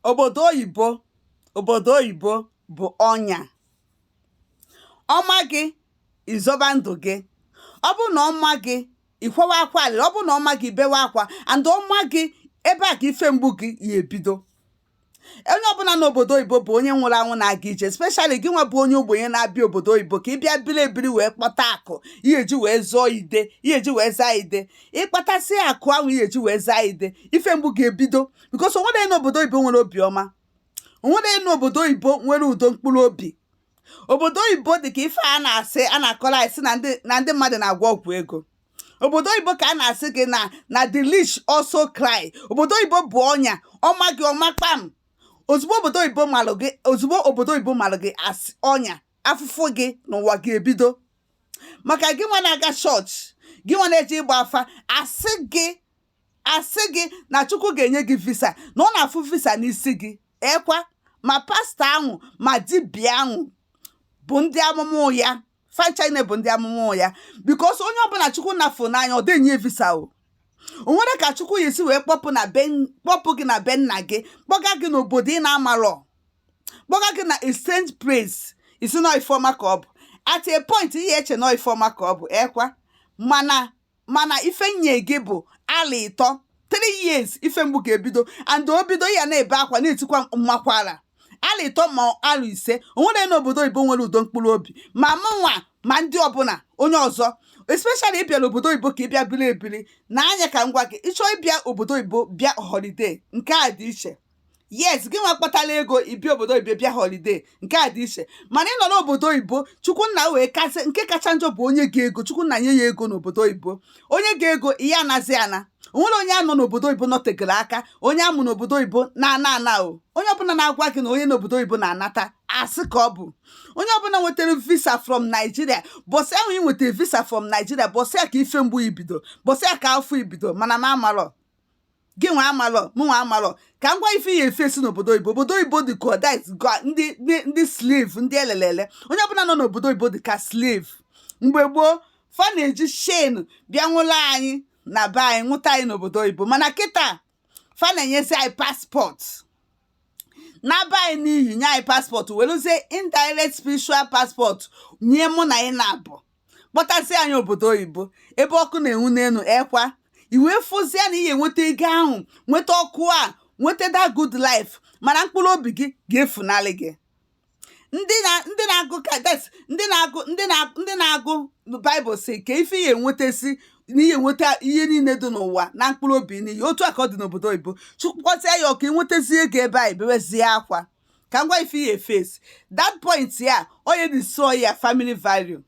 obodo oyibo obodo oyibo bụ ọnya ọ ma gị ị zọba ndụ gị ọ bụ na ọ ma gị ị kwawa akwa alịlị ọ bụ na ọ ma gị ị bewe akwa and ọ ma gị ebe a ka ife mgbu gị ya ebido onye ọbụla n'obodo oyibo bụ onye nwụrụ anwụ na-aga ije especially gị nwa bụ onye ogbenye na-abịa obodo oyibo ka ị bịa biri ebiri wee kpọta akụ ị ya-eji wee zụọ ide ị ya-eji wee zaa ide ị kpatasị akụ ahụ ị ya-eji wee zaa ide ife mgbu ga-ebido because onwere n'obodo oyibo nwere obi ọma onwere n'obodo oyibo nwere udo mkpụrụ obi obodo oyibo dị ka ife a na-asị a na-akọrọ anyị sị na ndị mmadụ na-agwọ ọgwụ ego obodo oyibo ka a na-asị gị na the rich also cry obodo oyibo bụ ọnya ọ ma gị ọ ma kpam ozugbo obodo oyibo malụ gị as ọnya afụfụ gị n'ụwa ga-ebido maka gị nwa na-aga chọọchị gị nwa na-eje ịgba afa a sị gị na chukwu ga-enye gị visa na ọ na-afụ visa n'isi gị ekwa ma pastọ ahụ ma dibia ahụ bụ ndị amụma ụgha fa ncha bụ ndị amụma ụgha because onye ọbụla chukwu na-afụ n'anya ọ dị enye visa o o nwerọ ka chukwu ya-esi wee kpọpụ gị na be nna gị kpọga gị n'obodo ị na-amarọ kpọga gị na strange place ị sị na ọ ife ọma ka ọ bụ at a point ị ya-eche na ọ ife ọma ka ọ bụ ekwa mana ife nye gị bụ arọ ịtọ 3 years ife mgbu ga-ebido and o bido ị ya na-ebe akwa na-etikwa mmakwara arọ ịtọ ma arọ ise onwere n'obodo oyibo nwere udo mkpụrụ obi ma mụnwa ma ndị ọbụla onye ọzọ especially ị bịara obodo oyibo ka ị bịa biri ebiri na anya ka m gwa gị ị chọọ ịbịa obodo oyibo bịa holiday nke a dị iche yes gị nwa kpatara ego ị bịa obodo oyibo bịa holiday nke a dị iche mana ị nọ n'obodo oyibo chukwu nna wee kasị nke kacha njọ bụ o nye gị ego chukwu nna nye ya ego n'obodo oyibo o nye gị ego ị ya-anazi ana onwere onye nọ n'obodo oyibo nọtegoro aka onye a mụ n'obodo oyibo na-ana ana o onye ọbụla na-agwa gị na onye n'obodo oyibo na-anata asị ka ọ bụ onye ọbụla nwetara visa from Nigeria bọsị ahụ ị nwetara visa from Nigeria bọsị ya ka ife mgbu i bido bọsị ya ka afụfụ i bido mana m amarọ gị nwa amalọ mụ nwa amalọ ka m gwa ife ya efe si n'obodo oyibo obodo oyibo dị ka ndị slave ndị e lele ele onye ọbụla nọ n'obodo oyibo dị ka slave mgbe gboo fa na-eji chain bịa nwụlụ anyị na be anyị nwụta anyị n'obodo oyibo mana kịta fa na-enyezi anyị paspọtụ na be anyị n'iyi nye anyị paspọtụ weluzie indirect spiritual paspọtụ nye mụ na gị naabọ kpọtazie anyị obodo oyibo ebe ọkụ na-enwu n'elu e kwa i wee fụzie na ị ya-enweta ego ahụ nweta ọkụ a nweta that good life mana mkpụrụ obi gị ga-efunarị gị ndị na ndị na-agụ kades ndị na-agụ ndị na ndị na-agụ baịbụl sị kee ife ị ya-enwetazi na ị ya-enweta ihe niile dị n'ụwa naa mkpụrụ obi n'iyi otu a ka ọ dị n'obodo oyibo chụkwasịa ya ọ ka ị nwetazi ego ebe a ebewezie akwa ka m gwa ife ị ya-eface that point a ọ ya-edestroy your family value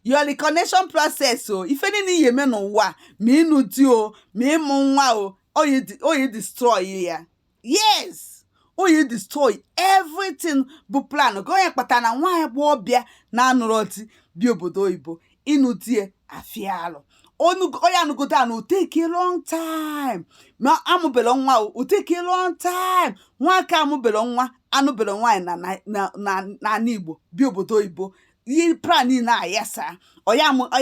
your reconnection process o ife niile ị ya-eme n'ụwa ma ịnụ di o ma ịmụ nwa o ọ ya-edestroy ya yes ọ ya-edestroy everything bụ plan gị ọ nya kpatara na nwa agbọọbịa na-anụrọ di bịa obodo oyibo ịnụ di ya-afịa alụ ọ ya-anụgodo anụ ọ take long time ma amụbele nwa ọ take long time nwoke amụbele nwa anụbele nwaanyị na n'ala igbo bịa obodo oyibo ihe plan niile ayasaa ọ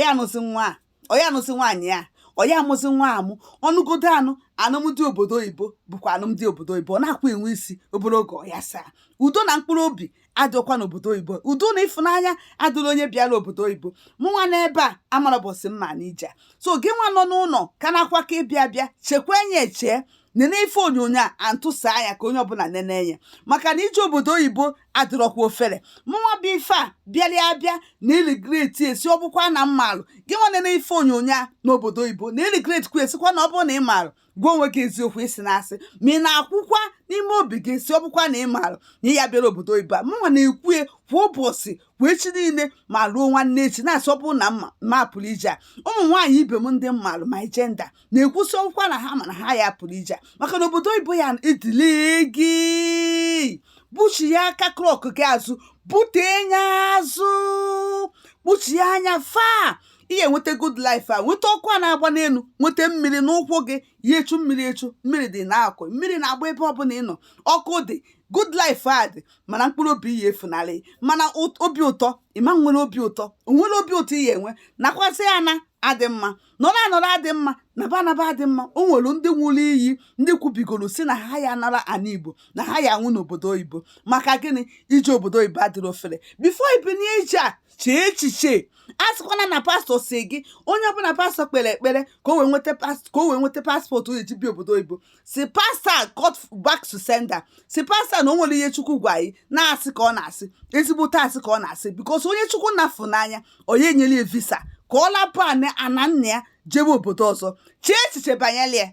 ya-anụzi nwa a ọ ya-anụzi nwaanyị a ọ ya-amụzi nwa amụ ọ nụgodo anụ anụmdi obodo oyibo bụkwa anụmdi obodo oyibo ọ naakwa enwe isi obere oge ọ yasaa udo na mkpụrụ obi adịkwa n'obodo oyibo udo na ịfụnanya adịrị onye bịara obodo oyibo mụ nwa nọ ebe a amarọ ụbọsị m ya-ana ije so gị nwa nọ n'ụlọ ka na-akwa ka ị bịa bịa chekwa enye echee nene ife onyonyo a antụsa anya ka onye ọbụla nene enye maka na ije obodo oyibo adịrọkwa ofere mụnwa bụ ife a bịara abịa na-eregreti e sị ọ bụkwa na m malụ gị nwa nene ife onyonyo a n'obodo oyibo na-eregretikwa e sịkwa na ọ bụrụ na ị malụ gwa onwe gị eziokwu i sina asị ma ị na-ekwukwa n'ime obi gị sị ọ bụkwa na ị maara na ị ya bịara obodo oyibo a mụnwa na-ekwu ya kwa ụbọchị kwa echi niile ma ruo nwanne echi na-asị ọ bụ na m ma ma pụrụ ije a ụmụ nwaanyị ibe m ndị m malụ my gender na-ekwu sị ọ bụkwa na ha ma na ha ya pụrụ ije maka na obodo oyibo ya-edeal gị buchia aka clock gị azụ bute nya azụ buchia nya far ị ya-enweta good life a nweta ọkụ a na-agba n'elu nweta mmiri n'ụkwụ gị ya echu mmiri echu mmiri dị na-akụ mmiri na-agba ebe ọbụla ị nọ ọkụ dị good life a dị mana mkpụrụ obi ya-efunarị mana obi ụtọ ị ma nwere obi ụtọ o nwerọ obi ụtọ ị ya-enwe nakwasị ya na adị mma nọrọ anọrọ adị mma naba anaba adị mma o nwere ndị ṅụrụ iyi ndị kwubigoro sị na ha ya nara ana igbo na ha ya-anwụ n'obodo oyibo maka gịnị ije obodo oyibo adịrọ ofere before i binye ije a chee echiche asịkwana na pastor sị gị onye ọbụla pastor kpere ekpere ka o wee nweta ka o wee nweta passport ọ ya-eji bịa obodo oyibo sị pastor go back to sender sị pastor na o nwere ihe chukwu gwa ya na asị ka ọ na-asị ezigbote asị ka ọ na-asị because onye chukwu na-afụ n'anya ọ ya-enyele ya visa ka ọ lapụ ana nna ya jebe obodo ọzọ chee echiche banyere ya